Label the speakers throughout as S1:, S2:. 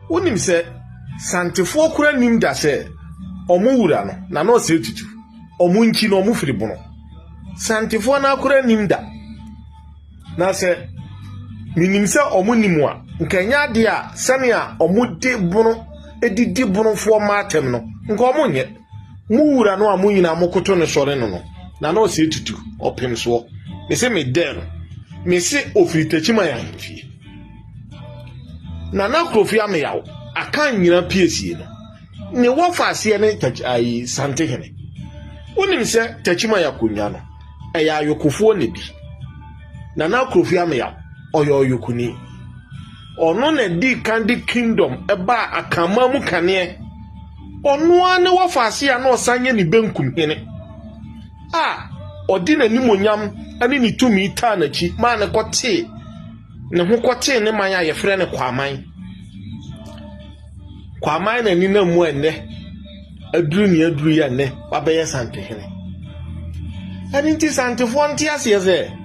S1: Wonim sɛ Santefoɔ kora nim da sɛ ɔmo wura no na na ɔsɛ tutu. Ɔmo nkyi no ɔmo firi bono. Santefoɔ no akora nim da. Na sɛ menim sɛ ɔmo nim a, nka ɛnyɛ adeɛ a sɛnea ɔmo de bono didi bonofoɔ mmaatɛm no, nka ɔmo nyɛ. Mo wura no a mo nyinaa mokoto no sɔre no no, na na ɔsɛ tutu, ɔpem soɔ. Me se me dɛɛ no, me se ɔfiri Takyiman ahemfie. Nana Kurofie Ameyaw, Akan nyina piesie no, ne wɔfa aseɛ ne ayi Santehene. Wonim sɛ Takyiman akonnwa no, ɛyɛ ayokofoɔ na di. Nana Kurofie Ameyaw, ɔyɛ ɔyokoni. Ɔno na di kan de kingdom ɛbaa Akanman mu kaneɛ. Ɔno ara ne wɔfa ase a na ɔsan yɛ ne benkum hene a ɔde n'animuonyam ne ne tumi taa n'akyi maa ne kɔtee ne ho kɔtee ne man a yɛfrɛ no Kwaman. Kwaman na ɛnenam mu a nnɛ aduru ne aduru yɛ nnɛ wabɛyɛ Santehene. Ɛno nti Santefoɔ nte aseɛ sɛ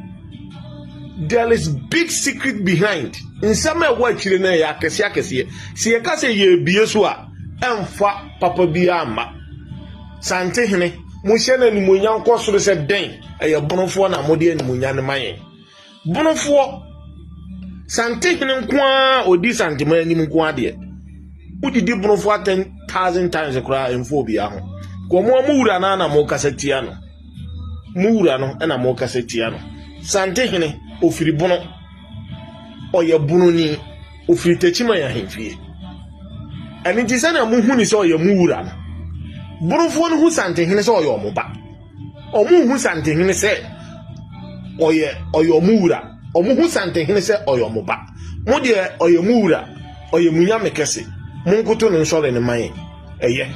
S1: there is big secret behind nsɛm a ɛwɔ akyire no ɛyɛ akɛseɛ akɛseɛ sɛ yɛka sɛ yɛrebie so a ɛmfa papa biara mma. Santehene, mohyɛ no animuonyam nkɔ soro sɛ dɛn? Ɛyɛ bonofoɔ na mode animuonyam no ma yɛn. Bonofoɔ, santehene nko ara ɔdi santema anim nko adeɛ. Wodidi bonofoɔ atɛn thousand times koraa ɛmfa obiara ho. Kɔn mo a mo wura no na mokasa tia no. Mo wura no na mokasa tia no. Santehene, ɔfiri bono. Ɔyɛ bononi. Ɔfiri Techiman ahemfie. Ɛno nti sɛdeɛ mohu ne sɛ ɔyɛ mo wura no, Borofoɔ no hu Santehene sɛ ɔyɛ ɔmo ba. Ɔmo hu Santehene sɛ ɔyɛ ɔyɛ ɔmo wura. Ɔmo hu Santehene sɛ ɔyɛ ɔmo ba. Mo deɛ ɔyɛ mo wura, ɔyɛ mo nyame kɛse. Monkoto no nsɔre no ma yɛn. Ɛyɛ.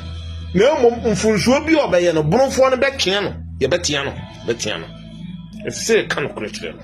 S1: Na mmom mfonsuo bi a ɔbɛyɛ no, Borofoɔ no bɛtwea no. Yɛbɛtea no. Bɛtea no. Ɛsɛ sɛ yɛka nokorɛ kyerɛ no.